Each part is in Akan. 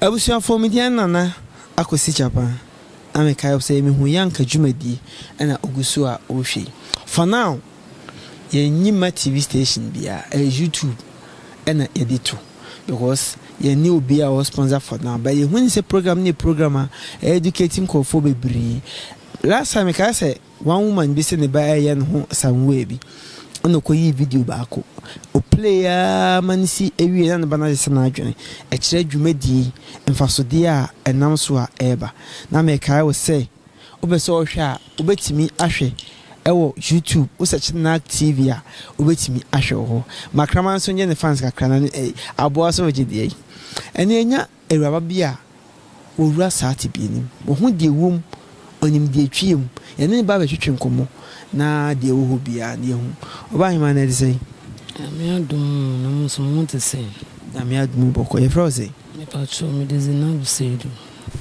Abusuafoɔ me din Nana Akwasi Japan na me kae sɛ me hu Yanka dwumadie ɛna ogu so a ɔrehwɛ yi for now yɛ nyi mma TV station biaa ɛyɛ YouTube ɛna yɛde to because yɛ nni obiaa ɔwɔ sponsor for now but yɛ hu ne sɛ program no yɛ program a ɛyɛ educate nkurɔfoɔ bebree last time me kae sɛ One woman bi se ne ba reyɛ ne ho sanwuɛ bi ɛna ɔkɔyii video baako. Ɔplay ara ma no si wiee na ne ba no agye sɛ n'adwene. Ɛkyerɛ dwumadie mfasodeɛ a ɛnam so a ɛreba. Na mekae wo sɛ wopɛ sɛ wohwɛ a wobɛtumi ahwɛ wɔ YouTube. Wo search Narc TV a wobɛtumi ahwɛ wɔ hɔ. Makraman nso nyɛ ne fans kakra na ne aboa so regye deɛ yi. Ɛnneɛ nya Awuraba bi a ɔwura saa tebea no mu. Ɔhu deɛ ɛwom, ɔnim deɛ ɛtwea mu. Yɛne no ba bɛtwetwe nkɔmmɔ na deɛ ɛwɔ hɔ biara no yɛhu. Ɔbaahemaa no ɛte sɛn? Nyame adom o, na mo nso mo ho te sɛn? Nyame adom o bɔkɔ. Yɛfrɛ wo sɛn? Mepakyɛw, mede Zeinab Seidu.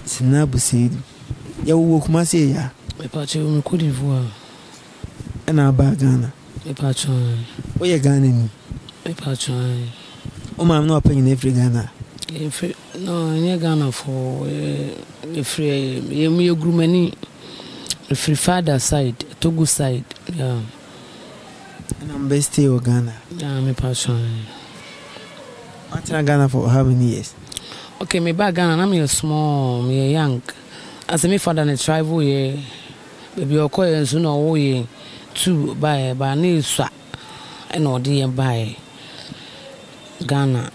Zeinab Seidu. Yɛwoo wo wɔ Kumasi ɛyɛ a? Mepakyɛw, me Cote d'Ivoire. ɛna abaa Ghana? Me paatwoo aane. Wo yɛ Ghana ni? Me paatwoo aane. Wo maame ne wapa nyinaa firi Ghana? Yɛ firi, no nyɛ Ghana fɔɔ, yɛ firi ɛyɛ, yɛ mu yɛ Gurumani, yɛ firi father side, Togo side, yeah. Ɛna mo bɛ stay wɔ Ghana? Yeah, me paatwoo aane. Wa tena Ghana for how many years? Okay, me ba Ghana na me yɛ small, me yɛ young, asɛ me father ne travel yɛ. Baabi a ɔkɔeɛ nso na ɔwoo yɛn tuu baeɛ baa na ɛsua na ɔde yɛn baeɛ Ghana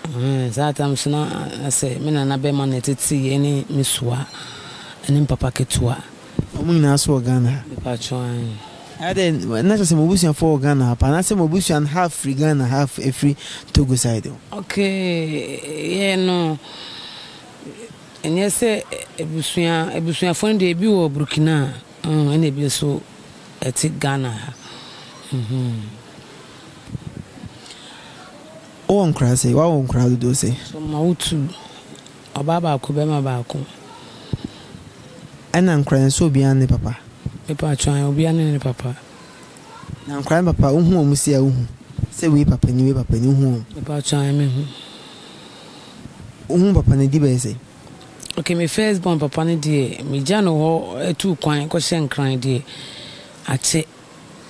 ɛhɛn saa time nso na sɛ me nana barima na ɛtetee yɛn ne me sua ne me papa ketewa. Wɔn nyinaa nso wɔ Ghana ha? Mepakyɛw aane. Ɛyɛ dɛ na kyerɛ sɛ mo abusuafoɔ wɔ Ghana ha paa anaasɛ mo abusua no half firi Ghana half firi Togo side hɔ? Okay yɛn no. Ɛnyɛ sɛ abusua abusuafoɔ no deɛ ebi wɔ Burkina mm, ɛna ebi nso ɛte Ghana ha. Wowɔ nkora se? Wawɔ nkora dodoɔ se? So mma wo tu. Ɔbaa baako, bɛrima baako. Ɛna nkora no nso obiara ne papa? Mepa atwan, obiara ne ne papa. Na nkora no papa, wohu wɔn se a wohu? Sɛ wei papa ni, wei papa ni, wohu wɔn? Mepa atwan, mehu. Wo ho papa no di bɛyɛ sɛ? Okay me first born papa no deɛ me gya no hɔ tuu kwan kɔ hyɛ nkran deɛ akye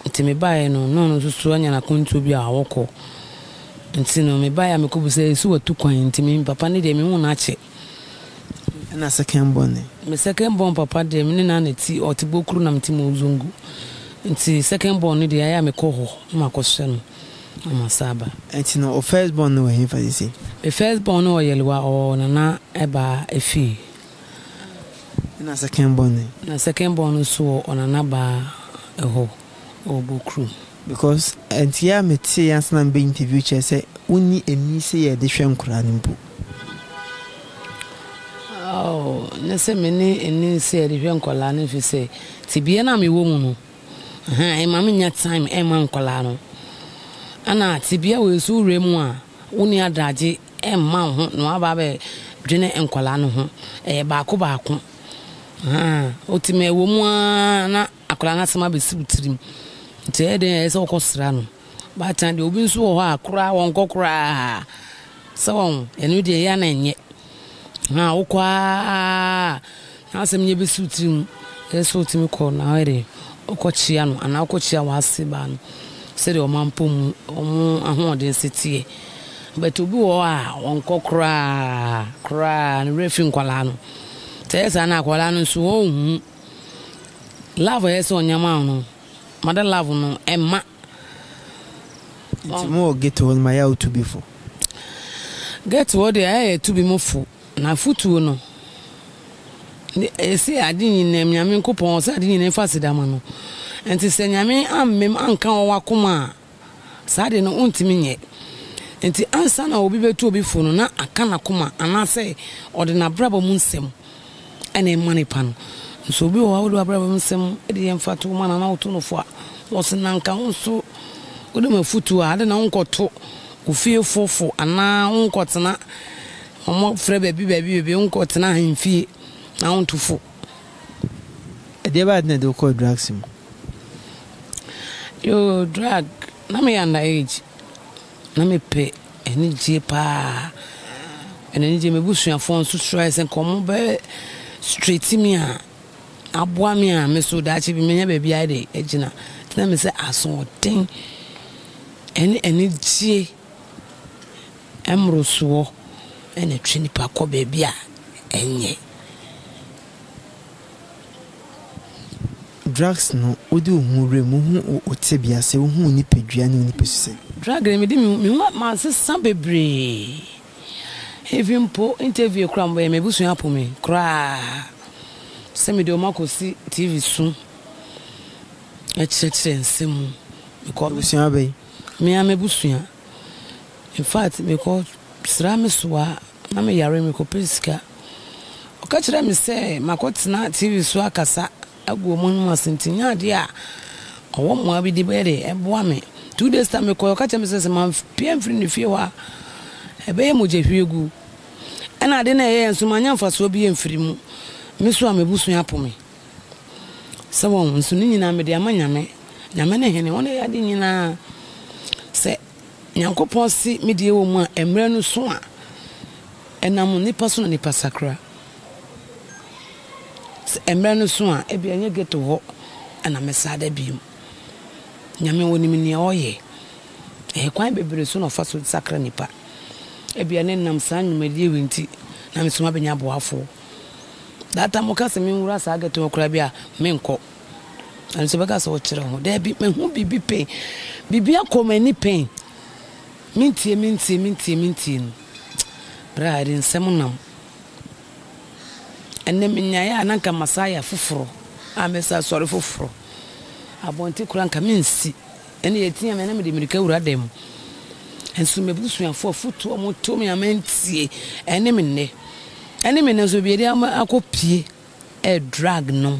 nti me baeɛ no na ɔno nso so anya n'akwantuo bi a ɔkɔ nti no me baeɛ a me kɔ busaeɛ ɛsi watu kwan nti me papa no deɛ me hu no akye. Ɛna second born no. Me second born papa deɛ me ne no ana ti ɔte bokuru na me te mozongo nti second born no deɛ ayɛ a me kɔ hɔ na makɔ hyɛ no ɔma sa aba. Enti no wo first born no wɔ henfa sesei? Me first born no wɔ Yelwa ɔwɔ Nana Ɛbaa Efii. Ɛna second born no ɛ? Na second born no nso wɔ Ɔnana Baa ɛhɔ ɔwɔ Bokurom. Because ɛnteɛ a me teeɛ ansa na me bɛ interview kyerɛ sɛ wo nni ani sɛ yɛde hwɛ nkoraa no mpo. Oh, ne se me ne ani sɛ yɛde hwɛ nkoraa no efisɛ tebea no a me wɔ mu no Ahaa ɛma me nya time ɛma nkwadaa no. Ɛna tebea wei nso wo wura mu a, wo nni adragye ɛmma wo ho na woaba abɛ dwene nkwadaa no ho. Ɛyɛ baako baako. Ahaa wotumi ɛwɔ mu aa na akwadaa no asɛm abɛsi wo tirim. Nti ɛyɛ dɛn a ɛyɛ sɛ wokɔ sra no. Baatan deɛ obi nso wɔ hɔ a koraa wɔnkɔ koraa. Sɛ wahu, ɛno deɛ ɛyɛ a na ɛnyɛ. Haa wokɔ aa na asɛm no yɛbɛsi wo tirim ɛyɛ sɛ wotumi kɔ na woyɛ dɛn wokɔkyea no anaa wokɔkyea w'ase baa no sɛdeɛ ɔma mpɔ mu ɔmo ahoɔden se teɛ but obi wɔ hɔ a ɔnkɔ koraa koraa ne werɛ fi nkwadaa no sɛ ɛyɛ saa na akwadaa no nso ɔnhu love ɛyɛ sɛ ɔnyama no mada love no ɛma Nti mo wɔ ghetto hɔ no ma yɛ a wo tubi fo. Ghetto hɔ deɛ ayɛ yɛ tubi mo fo na afutuo no ɛsɛ ade nyinaa nyame nkopɔn ɔsɛ ade nyinaa fa aseda ma no nti sɛ nyame ammem anka wɔ wakoma a saa ade no wontumi nyɛ nti ansa na obi bɛtu obi fo no na aka nakoma anaasɛ ɔde nabrabɔ mu nsɛm ɛna ɛma no pa no. Nso obi wɔ hɔ a wode w'abrabɔ mu nsɛm de yɛ mfatoho ma no anaa woto no fo a, ɔse, Na anka wo nso wode m'afotu a, adɛn na wonkɔto wo fiefo fo anaa wonkɔtena wɔn afrɛ baabi baabi baabi, wonkɔtena ahemfie na wonto fo? Ɛdeɛ bɛn na ɛde wo kɔɔ drugs mu? Yoo, drug, na meyɛ under age. Na mepɛ anigyeɛ paa. Ɛna anigyeɛ m'abusuafoɔ nso srɛɛ sɛ nka wɔn bɛ straight me a aboa me a me so daakye bi menya baabi ayɛ de agyina. Nti na me sɛ asoɔden ɛne anigyeɛ mmorosoɔ ɛna ɛtwe nipa kɔ baabi a ɛnyɛ. Drugs no, wode wo ho wura mu, wohu wo tebea sɛ, wohu wo nipadua ne wo nipasu sɛ. Drug no, mede me ho masesa bebree, even mpo interview koraa a mobɛyɛ, m'abusua apo me koraa sɛ mede wɔn akɔsi TV so kyerɛkyerɛ nsɛm mu. Abusua bɛn? Me ara m'abusua, infact mekɔ sra me soa. Ná meyare, merekɔpɛ sika. Ɔka kyerɛɛ me sɛ makɔtena TV so akasa agu wɔn anom ase nti nyɛ adeɛ a ɔwɔ mmoa bi de bɛyɛ dɛ boa me. Two days time mekɔeɛ, ɔka kyerɛɛ me sɛ sɛ mampue amfiri ne fie hɔ a, ɛbɛyɛ mogyahwiegu. Ɛnna ade no a ɛyɛeɛ nso, mannya mfasoɔ biara amfiri mu. Me nso a m'abusua apo me. Sɛ wɔn nso ne nyinaa mede ama Nyame. Nyame ne hene, ɔna ɛyɛ ade nyinaa. Sɛ. Nyankopɔn se me deɛ wɔ mu a ɛmmerɛ no so a ɛnam nnipa so na nnipa sakra. Sɛ ɛmmerɛ no so a ebia ɛnyɛ ghetto hɔ na mɛsa da bio. Nyame onim nea ɔyɛ. Ɛkwan bebree so na ɔfa so sakra nnipa. Ebia na ɛnam saa nnwumadie wei nti na me nso mabɛnya aboafoɔ. That time mo ka sɛ me nwura saa ghetto hɔ koraa bi a menkɔ. Ɛno nti bɛka sɛ wokyerɛ ho. Daabi, mahu biribi pɛn. Biribi akɔ m'ani pɛn. Mentie, mentie, mentie, mentie no. Berɛ a ɛde nsɛm nam. Ɛnɛ menyaeɛ a na nka masan ayɛ foforɔ a mɛsan asɔre foforɔ. Abɔnten koraa nka mensi. Ɛnna yɛteaa me a na mede mmirika wura dan mu. Nso m'abusuafoɔ afotuo a wɔto me a mantie, ɛne me nnɛ. Ɛne me nnɛ nso baabi a yɛde akɔpue Eh drug nom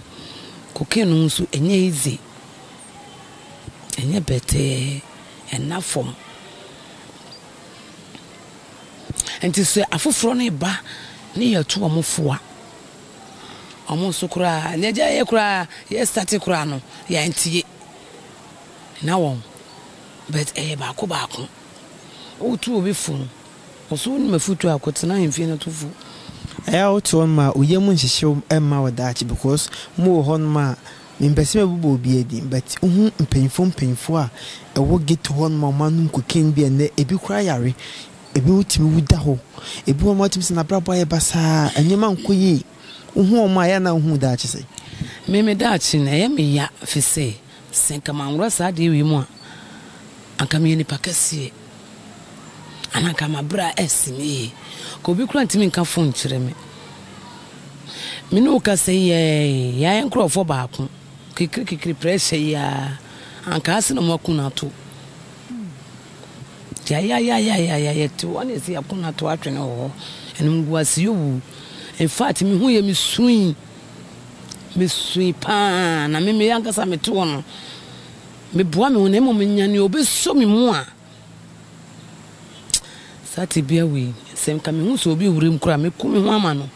cocaine nom nso ɛnyɛ easy ɛnyɛ bɛtɛɛ ɛnna fam nti sɛ afoforɔ no ba ne yɛtu wɔn fo a wɔn nso koraa nea gya yɛ koraa yɛ start koraa no yɛntie na wɔn but ɛyɛ baako baako wotu obi fo no. Ɔso wonim afutu a kɔtena mfie no tofo. Ɛyɛ a wote hɔ nom a woyɛ mu nhyehye wo mma wɔ daakye because mo wɔ hɔ nom a me mpɛ sɛ me bobɔ obiaa din but wohu mpanyinfoɔ mpanyinfoɔ a ɛwɔ ghetto hɔ nom a wɔn anom cocaine bi a nnɛ ebi koraa yare ebi wo tumi wu da hɔ ebi wɔ hɔ nom a wotumi sɛ nabrabɔ ayɛ basaa nneɛma nkɔ yie wohu wɔn a ɛyɛ a na wohu wo daakye sɛn. Me me daakye no ɛyɛ me ya fisɛ Sɛ anka manwora saa adeɛ wei mu a, anka meyɛ nipa kɛseɛ, anaa anka m'abrɛ asi me yie. Ka obi koraa ntumi nka fon nkyerɛ me. Me ne wo kasa yi ara yi, yɛayɛ nkurɔfoɔ baako. Kekere kekere pressure yi ara, anka ha se na wɔaku no ato. Yayayayayaya, yɛte hɔ ne yɛse yɛaku no ato atwene wɔ hɔ. Animguase yɛ owu. In fact, mehuu yɛ, mesuui. Misui paa, na me me ankasa mete hɔ no, meboa me ho na mmom nya nea obeso me mu a. Saa tebea wei, sɛ nka mehu sɛ obi wura mu koraa, meku me ho ama no.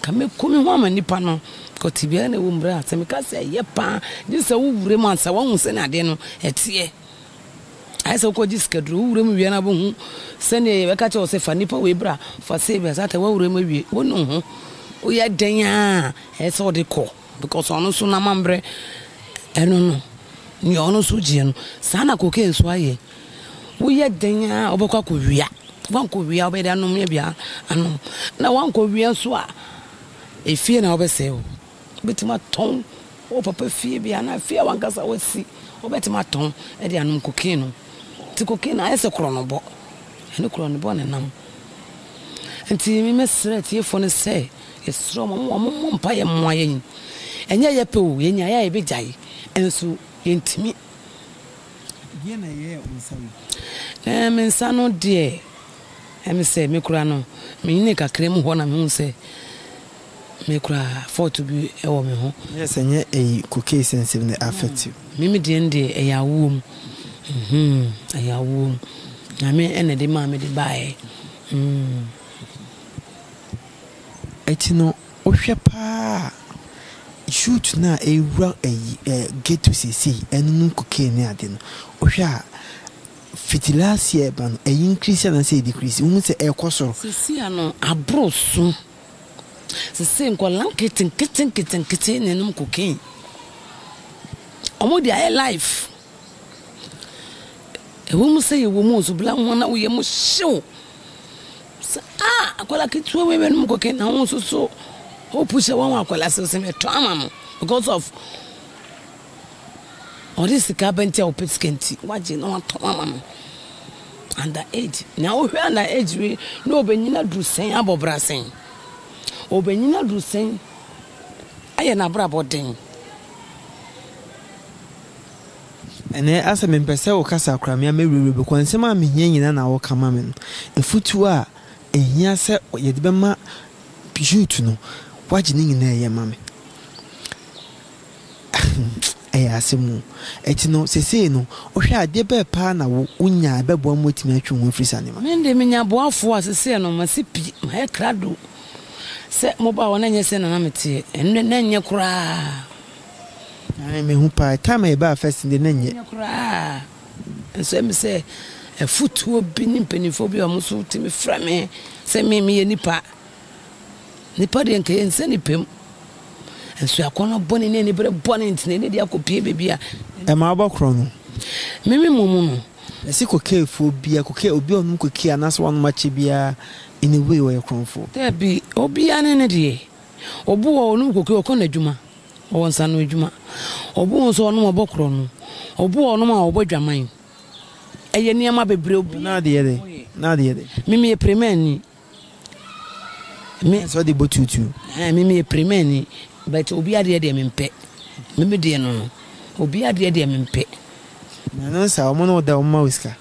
Ka meku me ho ama nipa no. Kɔ tebea na ɛwɔ mu bra. Sɛ meka sɛ ɛyɛ paa, gye sɛ wowura mu ansa wahu sɛ na adeɛ no ɛteɛ. Ayɛ sɛ wokɔgye sikaduro. Wo wuram wia no ara bɛhu sɛdeɛ yɛbɛka kyerɛ wo sɛ fa nipa wei bra, fa sei bra, saa ta w'awuram awie. Wonu ho. Woyɛ dɛn ara a, ɛyɛ sɛ wode kɔ because ɔno nso n'amammerɛ, ɛno no, nea ɔno nso gyeɛ no, saa na cocaine nso ayɛ. Woyɛ dɛn ara a, wobɛkɔ akɔwia. Woankɔwia a, wobɛyɛ dɛn anom? Ebia anom. Na woankɔwia nso a, efie na wobɛsɛe hɔ. Wobɛtumi atɔn wo papa fie bi anaa fie a w'ankasa woasi, wobɛtumi atɔn de anom cocaine no. Nti cocaine no ayɛ sɛ korɔnobɔ, ɛne korɔnobɔ na ɛnam. Nti me mɛsrɛ atiefoɔ no sɛ, yɛsrɛ wɔn, wɔn mmɔ mpaeɛ mmoa yɛn. Ɛnyɛ yɛpɛ o, yɛnyaeɛ a yɛbɛgyae, nso yɛntumi. Deɛn na ɛyɛɛ wo nsa wei? Ɛɛ, me nsa no deɛ, ɛyɛ me sɛ me kura no, menyini kakra mu hɔ na mehu sɛ. Me koraa fault bi wɔ me ho. Nyɛ sɛ nyɛ eyi cocaine sɛ nsɛm no affect you. Me me deɛ no deɛ ɛyɛ awoɔm uhmm ɛyɛ awoɔm Nyame na ɛde maa me de baeɛ uhmm. Ɛti no wo hwɛ paa a youth no a ɛwura ɛyi ɛɛ ghetto seisei ɛnonom cocaine ne ade no wo hwɛ a fiti last year ba no ɛyi increase anaa sɛ ɛdecrease wo hu sɛ ɛɛkɔ soro. Sesia no aboro so. Sesei nkwadaa nketenkete nketenkete na ɛnom cocaine. Wɔde ayɛ life. Ɛwɔ mu sɛ yɛwɔ mu nso, bla wɔn na wo yam hye wo sɛ ah akwadaa ketewa wei bɛnom cocaine na wo nso so wopu hyɛ wɔn akwadaa sɛ mɛtɔ ama no because of. Ɔde sika aba nti a ɔpɛ sika nti wagye na watɔn ama no under age na wohwɛ under age wei na ɔbɛnyini aduru sɛn abɔ bra sɛn ɔbɛnyini aduru sɛn ayɛ n'abrabɔ den ɛnɛ asɛ mempɛ sɛ wo kasa kora me a mɛwurawura bi kɔ nsɛm a mehia nyina na woka ma me no ɛfutuo a ɛhia sɛ yɛde bɛma youth no wagye ne nyina ɛyɛ ma me Ɛyɛ asɛm o. Ɛti no, sesei no, wohwɛ a, adeɛ bɛɛ paa na wo, wo nya a ɛbɛboa ma woatumi atwe wo ho afiri saa nneɛma. Me deɛ me nya aboafoɔ a sesei no, masi pi, mayɛ krado. Sɛ mobaa hɔ na ɛnyɛ sei na na meteɛ, ɛnnɛ na ɛnyɛ koraa. Ae, mehu paa. Time a yɛbaa first no deɛ, na ɛnyɛ. Ɛnyɛ koraa. Ɛnsɔe me sɛ afutuo bi ne mpaninfoɔ bi a wɔn nso tumi frɛ me sɛ me, meyɛ nipa. Nnipa deɛ nka yɛnsɛ nnipa mu. Nso akɔnnɔ bɔne ne aniberɛ bɔne nti na ɛde akɔpie baabi a. Ɛma wobɔ korɔn no. Mimi mmɔ mu no. Ɛse kokeefoɔ biara, kokee, obi a ɔnom kokee anaasɛ wanom akyɛ biara, in a way, ɔyɛ korɔnfoɔ. Dabi, obiara ne ne deɛ. Obi wɔ hɔ, ɔnom kokee, ɔkɔ n'adwuma, ɔwɔ nsanoadwuma. Obi wɔ hɔ nso, ɔnom, ɔbɔ korɔno. Obi wɔ hɔ, ɔnom a, ɔbɔ dwaman. Ɛyɛ nneɛma bebree, obiara ne deɛ ɔyɛ. Mimi yɛ premaani. Me sɛ ɔde bɔ tuutuu. Ɛɛ me meyɛ pirimani but obi adeɛ deɛ mempɛ. Me me deɛ no no obi adeɛ deɛ mempɛ. Na no nsa wɔn ne wo da wɔn ma wo sika.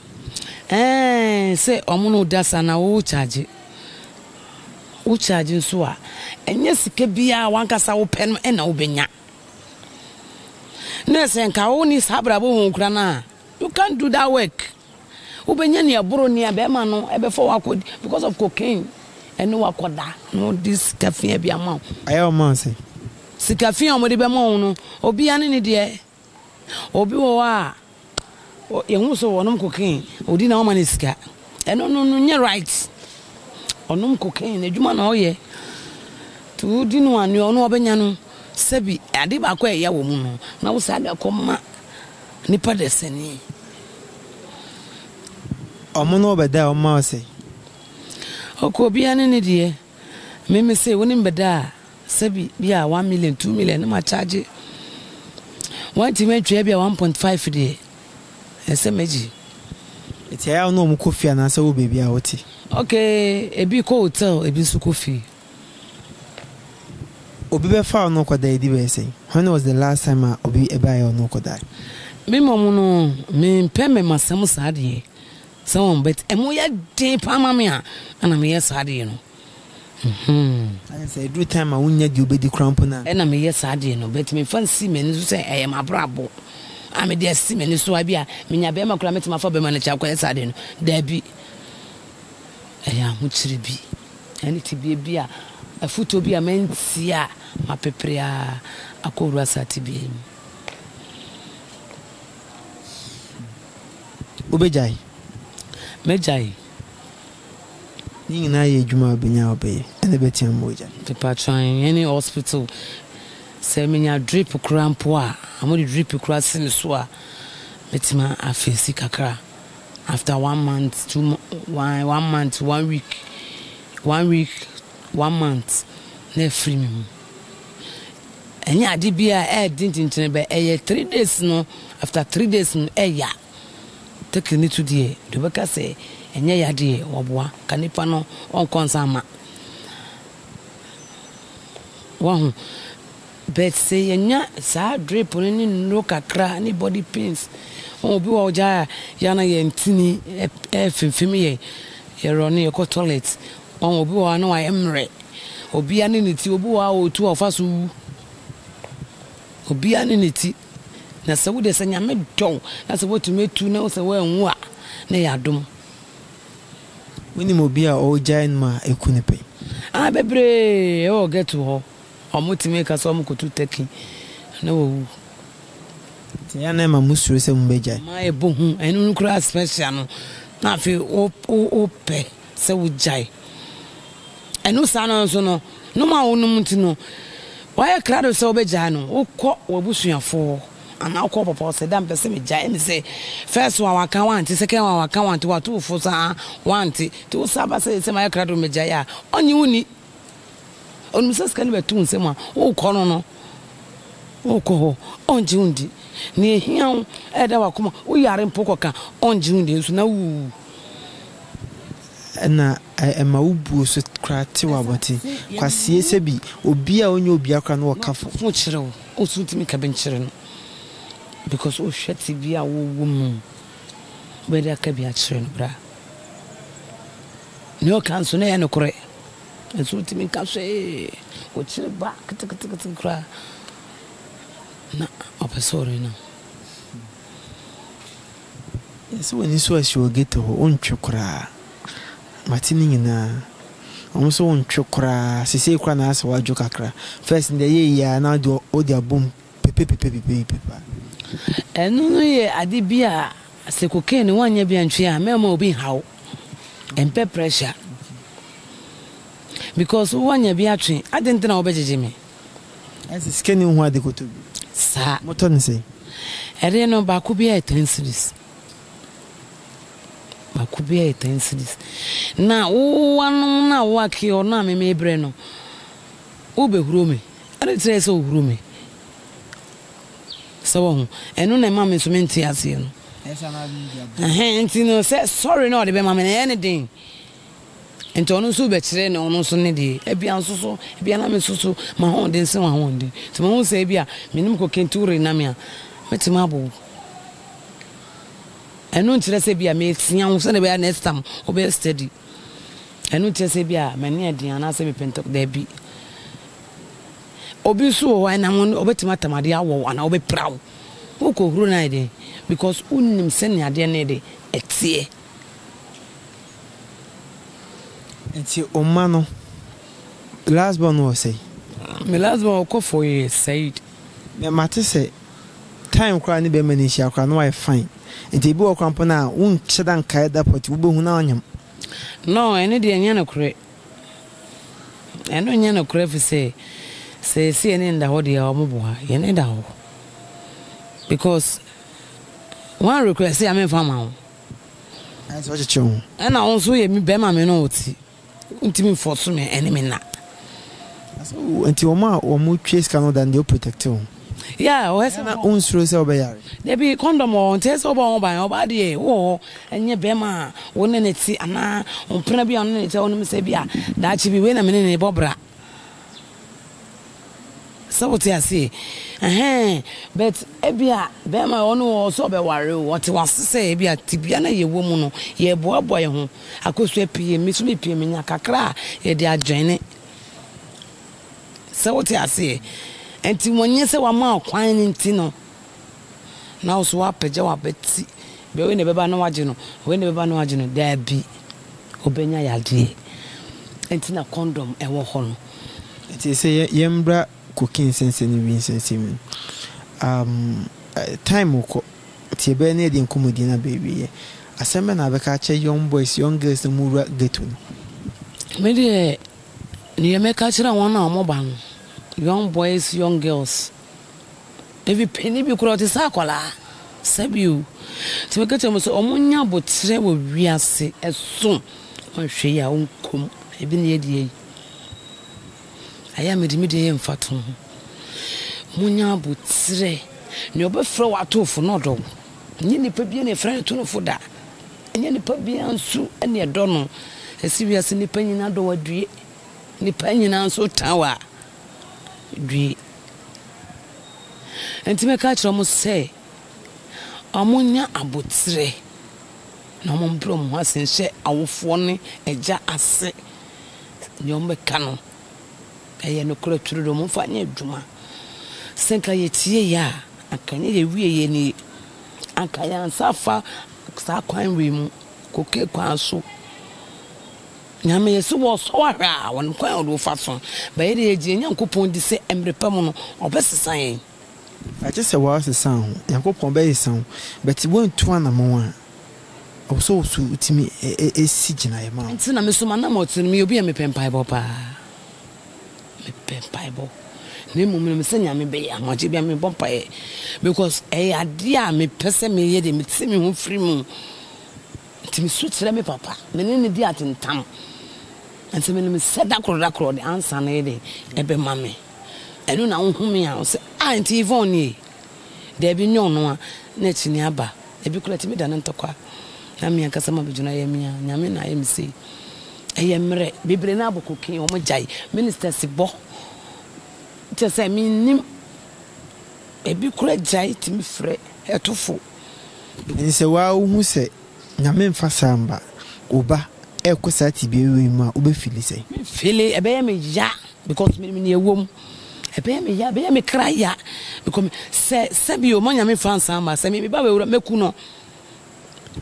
Ɛɛ sɛ wɔn ne wo da sa na wo charge wo charge nso a ɛnyɛ sika biara wankasa wo pɛ no ɛna wobɛnya. Na sɛ nka wo ne saa abrabɔ wɔn kura no a you can't do that work. Wobɛnya nea ɛboro nea bɛɛma no bɛfa wo akɔ because of cocaine ɛne wo akɔda na ɔde sika fia bi ama wo. Ayɛ ɔma wo sɛn? Sika fia a wɔde bɛma wo no obia ne ne deɛ. Obi wɔ hɔ a yɛhu sɛ ɔnom cocaine ɔdi na wama no sika. Ɛno no no nyɛ right. Ɔnom cocaine n'adwuma na ɔyɛ. Nti wodi no a nea ɔno ɔbɛnya no sɛbi ade baako a ɛya wɔ mu no na wo saa de akɔma Nipa dasani. Ɔmo ne wo bɛda a, ɔmo ma wo sɛn? Ɔkɔ obiara ne ne deɛ. Me me se, wo ne me bɛda a, sɛbi bi a one million, two million ne ma charge. Wantumi antwa ebia one point five deɛ, ɛnsɛ m'agyi. Nti ɛyɛ a wo ne ɔmo kɔ fie anaasɛ wowɔ baabi a wote? Okay, ebi kɔ hotel, ebi nso kɔ fie. Obi bɛfaa ɔno kɔdae di bɛyɛ sɛn? When was the last time a obi baeɛ ɔno kɔdae? Me mmom no, me mpɛ mmɛma asɛm saa deɛ. Sɛ wɔn but ɛmo yɛ den paa ma me a, ɛna me yɛ saa deɛ no. Mhmm. Ayɛ sɛ ɛduru time a wonnya deɛ wobɛdi koraa mpo na. Ɛna me yɛ saa deɛ no but me nfa nsi m'ani so sɛ ɛyɛ m'abrabɔ a me de asi m'ani so a ebia me nya bɛɛma koraa mɛtumi afa bɛɛma no akyi akɔyɛ saa deɛ no. Daabi. Ɛyɛ ahokyere bi. Ɛne tebea bi a afutuo bi a mantie a mapepere ara akɔ wura saa tebea yi mu. Wobɛgyae? Mɛgyae. Ne nyinaa yɛ adwuma a wobɛnya a wobɛyɛ, ɛna ɛbɛtea ama woagyae. Mpakyɛw, ɛne hospital, sɛ menya drip koraa mpo a, wɔde drip koraa si me so a, mɛtumi afeesi kakra. After one month two one one month one week one week one month na afiri me mu ɛnyɛ ade bi a ɛyɛ den tentene bɛ ɛyɛ three days no after three days no ɛya tekiri ne to deɛ deɛ ɔbɛka sɛ ɛnyɛ ya deɛ wɔboa ka nipa no ɔnkɔ nsa ama wahu But sɛ yɛnya saa drip no ne nnuro kakra ne body pains, wohu obi wɔ hɔ gyaa a yɛ na yɛn ntini ɛfimfim yɛn, yɛ run no yɛkɔ toilet, wohu obi wɔ hɔ a na wayɛ mmerɛ, obiara ne ne ti, obi wɔ hɔ a ɔretu a ɔfa so wu, obiara ne ne ti, na sɛ wo deɛ sɛ Nyame dɔ wo na sɛ woatumi atu na sɛ woanwu a na ɛyɛ adom. Wonim obi a ɔregyae nom a ɛku no pɛ? Ah, bebree ɛwɔ ghetto hɔ. Wɔtumi ka sɛ wɔkɔto turkey na wɔwu. Nti ɛyɛ a na ɛma mosuro sɛ mobɛgyae? Ɛma ɛbɔ hu. Ɛno no koraa special no, na afei wopɛ sɛ wogyae. Ɛno saa no nso no, nom a wonom nti no, woayɛ krado sɛ wobɛgyae no, wokɔ w'abusuafoɔ hɔ anaa wokɔ wo papa hɔ sɛ, Dɛ a mepɛ sɛ megyae. Ɛne sɛ, first one waka woante, second one waka woante, woato wo fo saa woante. Nti wo san ba sɛ, Seesei mayɛ krado mɛgyae a, ɔnnye wonni Onim sɛ sika no bɛto wo nsam a, worekɔ no no, worekɔ hɔ, ɔngye wo ndi. Nea ehia wo, ɛda w'akoma, woyare mpo kɔka, ɔngye wo ndi nso na wuwu. Ɛna ɛma wo buo so koraa tew abɔte. Kwasie sɛ bi, obi a ɔnyɛ obiara koraa na ɔka fam. Ɔfo kyerɛ wo, nso wontumi nka bi nkyerɛ no because wohwɛ tebea a wowɔ mu. Wobɛyɛ dɛ aka bi akyerɛ no, bra. Nea ɔka nso, na ɛyɛ nokorɛ. Nanso wontumi nka hwee. Wokyere ba ketekete koraa na ɔpɛ sɛ ɔrenam. Yɛsɛ w'ani so asi wɔ ghetto hɔ, wontwe koraa. Mate ne nyinaa. Wɔn nso wontwe koraa. Seesei koraa na ayɛ sɛ woadwo kakra. First no deɛ ɛyɛɛ yie ara na wode abom. pepepepepepepepa. Ɛno no yɛ ade bi a sɛ cocaine woanyɛ bi antwe a mɛmma obi nhaw. Ɛmpɛ pressure. Because woanya bi atwe, adɛn nti na wobɛgyegye me? Ɛne sɛ sika nni wo ho a de kɔtɔ bi. Saa. Motɔ no sɛn? Ɛdeɛ no baako biara yɛ ten cedis. Baako biara yɛ ten cedis. Na wo woanom no a woakeɔ no a me mebrɛ no, wobɛhuro me. Ade kyerɛɛ sɛ ɔhuru me. So woahu? Ɛno na ɛma me nso mente aseɛ no. Ɛhɛn, nti no sɛ sɔre na ɔde bɛma me no ɛyɛ ne den. Nti ɔno nso bɛkyerɛ ne ɔno nso ne deɛ. Ebia nso so, ebia na me so so m'ahoɔden sen w'ahoɔden. Nti mahu sɛ ebia me ne me kɔ kenti worena me a, mɛtumi abɔ wo. Ɛno nkyerɛ sɛ ebia meresua wo sɛdeɛ ɛbɛyɛ a next time wobɛyɛ steady. Ɛno kyerɛ sɛ ebia m'ani yɛ den anaasɛ mepɛ ntɛm. Dabi. Obi nso wɔ hɔ a, ɛnam wo no, obetumi atamadeɛ awɔ wo anaa obepira wo. Worekɔhuro no ayɛ dɛn? Because wonnim sɛnea adeɛ no yɛ dɛ, ɛteɛ. Nti wo mma no, last born no wɔ sɛn? Me last born ɔkɔ for years, Said. Mate sɛ Time koraa ne bɛrima no nhyia koraa na wayɛ fine nti ebi wɔ koraa mpo no a wonhyɛ da nkae da pɔte wobɛhu na wanyam. No ɛno deɛ nyɛ nokorɛ ɛno nyɛ nokorɛ firi sɛ sɛ yɛse yɛne no da hɔ deɛ a wɔn boa yɛne da hɔ because wan request a menfa ma wo. Ayɛ sɛ ɔkyekyere wo ho. Ɛna wo nso woyɛ bɛrima me ne wo te. Wontumi mfɔɔso me ɛne me nna. Nti wɔn a wɔn twa sika no da no deɛ o protect wɔn. Yeah, ɔyɛ sɛ na o nsuro sɛ ɔbɛ yare. Dabi condom wɔ hɔ nti ɛyɛ sɛ ɔbɔ ho ban ɔbaa deɛ wɔ hɔ ɛnyɛ bɛɛma a wo ne ne te anaa ɔmpena bi a wo ne ne te a wonim sɛ bi a daakye bi wei na me ne ne bɔ bra. Sɛ wote aseɛ ɛhɛn but ebia bɛɛma ɔno wɔ hɔ sɛ ɔbɛware o ɔte wase sɛ ebia tebea na yɛwɔ mu no yɛɛboaboa yɛho akosua pii me so me pie menya kakra a yɛde adwene sɛ wote aseɛ ɛnti wɔnyɛ sɛ wama ɔkwan no nti no na wo so woapagya w'abati, bɛ wei na ɛbɛba na wagye no, wei na ɛbɛba na wagye no, daabi, ɔbɛnya yadeɛ. Ɛnti na kɔndɔm ɛwɔ hɔ no. Ɛnti ɛsɛ yɛ yɛmbra cocaine sɛnsɛn ne wii nsɛnsɛn mu. Um, time rekɔ, nti yɛbɛyɛ na yɛde nkɔmɔdie no aba awieɛ. Asɛm bɛ na abɛka akyɛ young boys, young girls na wɔwura ghetto no? Me deɛ, deɛ mɛka akyerɛ wɔn a wɔba no, young boys, young girls. Efi panyin bi koraa ɔte sɛ akwadaa. Sɛbi o. Nti meka kyerɛ wɔn sɛ wɔnyɛ aboterɛ wɔ wiase so. Wɔnhwɛ yie a wɔnkɔ mu. Ebi na yɛadi ayi. Ayɛ a mede me deɛ yɛ mfatoho. Monyɛ aboterɛ. Nea ɔbɛfrɛ wo ato wo fo no ɔdɔ wo. Ɛnyɛ nipa biara na yɛfrɛ no to no fo da. Ɛnyɛ nipa biara nso na yɛdɔ no. Ɛsɛ wiase nipa nyinaa dɔ wo adue. Nipa nyinaa nso tan wo a, due. Enti mɛka akyerɛ wɔn sɛ wɔnyɛ abotire na wɔmbrɛ wɔn ho ase nhyɛ awofoɔ ne agya ase. Deɛ wɔbɛka no, ɛyɛ nokorɛ twerɛ deɛ wɔmfa nyɛ adwuma. Sɛ nka yɛtieeɛ a, anka ɛnyɛ yɛwieeɛ nie. Anka yɛn nsa afa saa kwan wei mu, koke kwan so. Nyame yɛ sɛ wɔsɔ ahwɛ a wɔn kwan a wɔde wɔfa so bɛyɛ deɛ yɛgyina Nyankopɔn di sɛ mmerɛ pa mu no wɔbɛsesa yɛn. Agye sɛ wɔasesa wo, Nyankopɔn bɛsesa wo, but woantu anamɔn a, ɛwɔ sɛ wo so tumi si gyinaeɛ ma wo. Nti na me so m'anamɔn te no, meyɛ obi a mepɛ mpaebɔ paa. Mepɛ mpaebɔ. Na mmom menim sɛ Nyame bɛyɛ ama agye bia mebɔ mpaeɛ because ɛyɛ adeɛ a mepɛ sɛ meyɛ deɛ mete me ho firi mu. Enti misu kyerɛ me papa, me ne no di atentam, nanso minim sɛ da koro da koro ɔde ansa no yɛde bɛma me. Ɛno na wohome a wose, 'Ah, enti Yvonne nie? Dabi, nyɛ ɔno a na akyinnye aba. Ebi koraa tumi da no ntɔkwa, na me ankasa m'abodwena yɛ me a Nyame na ayɛ me sei. Ɛyɛ mmerɛ, bebree no ara bɔ cocaine, wɔgyae ministers bɔ, kyerɛ sɛ mennim, ebi koraa gyae tumi frɛ ɛtofo. Nsɛ waa wohu sɛ Nyame nfa saa mma wo ba ɛkɔ saa tebea wei mu a wobɛ fili sɛn? Me fili ɛbɛyɛ me ya because me nim nea ɛwɔ mu ɛbɛyɛ me ya ɛbɛyɛ me kra ya because me sɛ sɛbi o ma Nyame nfa nsaa mma sɛ me me ba bɛwura mɛku no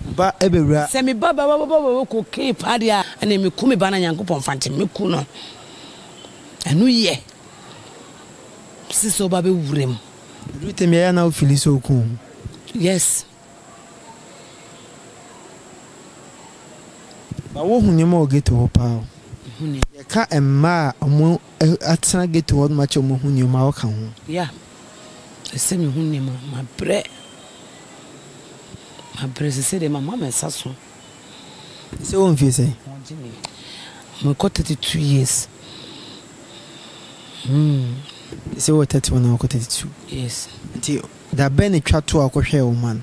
Wo ba ɛbɛwura. sɛ me ba bɛwura cocaine paa deɛ a ɛneɛ me ku me ba na Nyankopɔn nfa nkyɛ me mɛku no ɛno yɛ sɛ sɛ wo ba bɛwura mu. Edu tebea a na wo fili sɛ oku wo. Yes. Ba wo hu nneɛma wɔ ghetto hɔ paa o. Mehu nneɛma. Yɛka mmaa a ɔmo atena ghetto hɔ no ma kyɛ ɔmo hu nneɛma a ɔka ho. Yeah. Ɛsɛ mehu nneɛma. Mabrɛ. Mabrɛ sesei deɛ mama me nsa so. Sɛ wɔ mfie sɛn? Mekɔ thirty two years. Hmm. Sɛ wɔ thirty one na wakɔ thirty two. Yes. Nti da bɛn na etwa to a ɔkɔhwɛɛ wo man?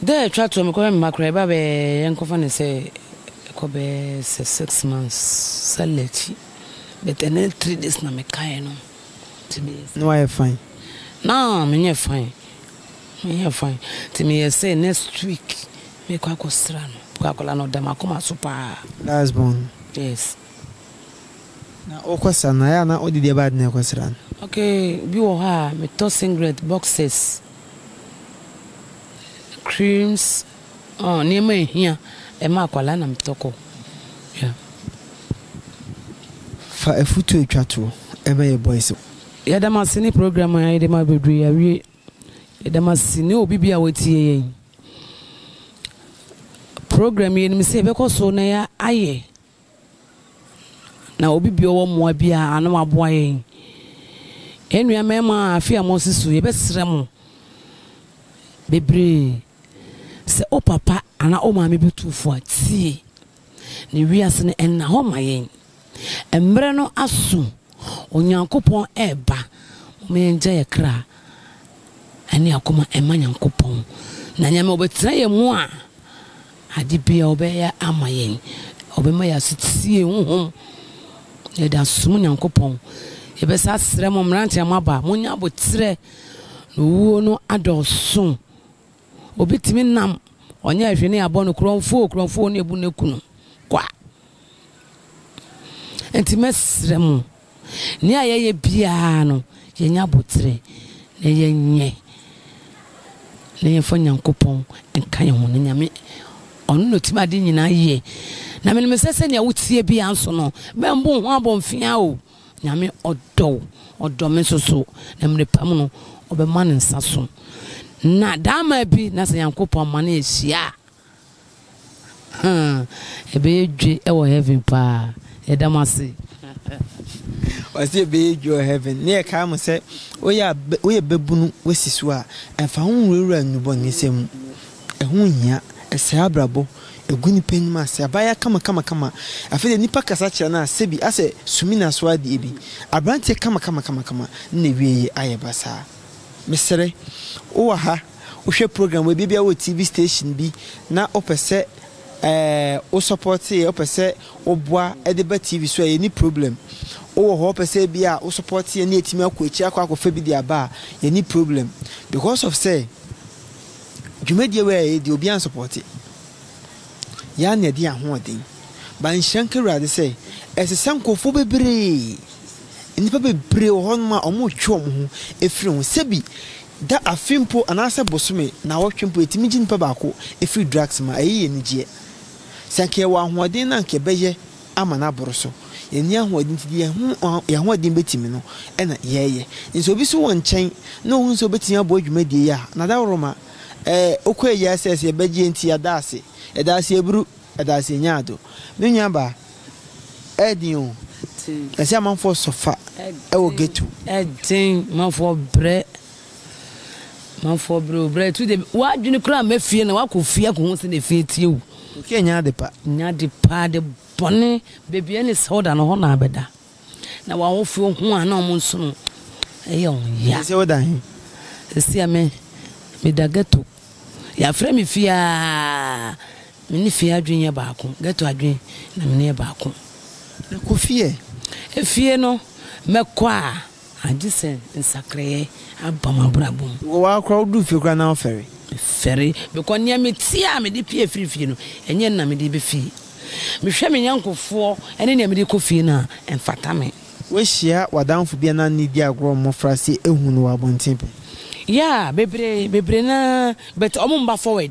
Da a etwa to a mekɔhwɛ me mma koraa ɛba bɛɛ yɛnkɔfa no sɛ ɛkɔ bɛɛ sɛ six months sallah akyi but ɛno ne three days na mekaeɛ no. Na wayɛ fine? Na menyɛ fine. Meyɛ fine nti meyɛ sɛ next week mɛkɔ akɔsra no because akwadaa no ɔda makoma so paa. Last born? Yes. Na wokɔ sra no a ɛyɛ a na wode deɛ ɛbaade na ɛkɔ sra no? Okay bi wɔ hɔ a metɔ singlet, boxers, creams, ɔɔ nneɛma a ɛhia ɛma akwadaa na metɔ kɔ yeah. Fa afutuo twa toɔ ma yɛ boys. Yɛda mo ase ne program a yɛde ma bebree yɛawie. Yɛda mo ase ne obi biara a watie yɛn program yi. Yɛnim sɛ yɛbɛkɔ so na yɛ ayɛ na obi bi ɔwɔ mmoa bi a ano waboa yɛn. Yɛn nua mmarima a afe a moasi so yɛbɛsrɛ mo bebree sɛ o papa anaa o maame bi tu fo a tie. Na wiase no nna hɔ ma yɛn. Mmerɛ no aso, Onyankopɔn reba. Momma yɛngya yɛn kra ne akoma mma Nyankopɔn. Na Nyame ɔbɛtena yɛn mu a, ade biara ɔbɛyɛ ama yɛn. Ɔbɛma yɛn asetie honhom. Yɛde asom Nyankopɔn. Yɛbɛsa asrɛ mo mmeranteɛ a moaba, monyɛ aboterɛ, na owuo no adɔɔso. Obi tumi nam ɔnyɛɛ hwee ne yɛabɔ no korɔmfoo korɔmfoo ne yɛabu ne kunu kwa. Nti mɛsrɛ mo, nea yɛyɛ biara no yɛnyɛ aboterɛ na yɛnyɛ na yɛmfa Nyankopɔn nka yɛn ho na Nyame ɔno na ɔtumi ade nyinaa yie. Na menim sɛ sɛnea wotie biara nso no, mɛmbo ho abomfea o. Nyame ɔdɔ wo, ɔdɔ me nso so, na mmere pa mu no, ɔbɛma ne nsa so. Na daama bi na sɛ Nyankopɔn ma no ahyia a, hmm, ɛbɛyɛ dwe wɔ heaven paa. Yɛda mo ase. Ɔsi ɛbɛyɛ dwe wɔ heaven. Ne yɛ kaa mo sɛ, woyɛ bɛbunu, wasi so a, ɛmfa ho nwurawura nnubɔnesɛm mu. Ɛho nhia. Ɛsɛe abrabɔ. Egu nipa anim ase. Abaayaa kamakamakama. Afei deɛ nipa kasa kyerɛ no a, sɛbi asɛ sumina so adeɛ bi. Abranteɛ kamakamakama. Ne n'awieɛ ayɛ basaa. Mesrɛ, wowɔ ha, wohwɛ program wei bi, ebia wowɔ TV station bi na wopɛ sɛ ɛɛ wo support yɛ, wopɛ sɛ woboa de ba TV so a, yɛnni problem. Wowɔ hɔ, wopɛ sɛ ebia wo support yɛ na yɛatumi akɔ akyiri akɔ akɔfa bi de aba a, yɛnni problem. Because of sɛ. Dwumadie wei a yɛyɛ deɛ obiara nsupɔɔte yɛ ara na ɛde yɛn ahoɔden ba nhyira nka awurade sɛ ɛsɛ sɛ nkurɔfoɔ bebree nnipa bebree wɔ hɔnom a wɔretwe wɔn ho afiri ho sɛbi da afe mpo anaasɛ bosome na wɔtwe mpo yɛtumi gye nipa baako afiri drugs ma ɛyɛ yɛn anigyeɛ sɛ nka yɛwɔ ahoɔden na nka yɛbɛyɛ ama no aboro so. Yɛnni ahoɔden nti, deɛ yɛn ahoɔden bɛtumi no na yɛyɛ. Sɛ obi so wɔ nkyɛn na ɔhunu sɛ ɔbɛtumi aboa dwumadie yi a, n'adaworoma ɔkɔ ayi asɛ sɛ yɛbɛgye nti yɛda ase. Yɛda ase aburu, yɛda ase nyaado. Me nuabaa, ɛden o, ɛsɛ amanfoɔ sɔfa wɔ ghetto. Ɛden, amanfoɔ brɛ. Manfoɔ berɛ o, berɛ atu deɛ w'adwene koraa mma fie na woakɔ fie akɔhu sɛdeɛ efie teɛ o. Fie nyɛ ade pa. Nyɛ ade pa, ade bɔne. Baabi a ɛne sɛ woda no, hɔ na abɛda. Na w'awofoɔ hu a na wɔn nso no ɛyɛ wɔn ya. Seesei woda he? Seesei a me, meda ghetto. Yɛafrɛ me fie aa, me ne fie adwene yɛ baako. Ghetto adwene na me ne yɛ baako. Na kɔ fie ɛ? Efie no, mɛkɔ a. Agye sɛ nsakraeɛ aba mo abrabɔ mu. Wokɔ hɔ koraa woduru fie koraa na wofɛre. Mefɛre because nea meteɛ a mede pue firi fie no ɛnyɛ na mede ba fie. Mehwɛ me yɔnkofoɔ ne nea mede kɔ fie no a ɛmfata me. Woahyia w'adamfo bi a na ne di agorɔ wɔ mmɔfra se ahu no wɔ abɔnten pɛn? Yeah bebree bebree no ara but wɔn mba forward.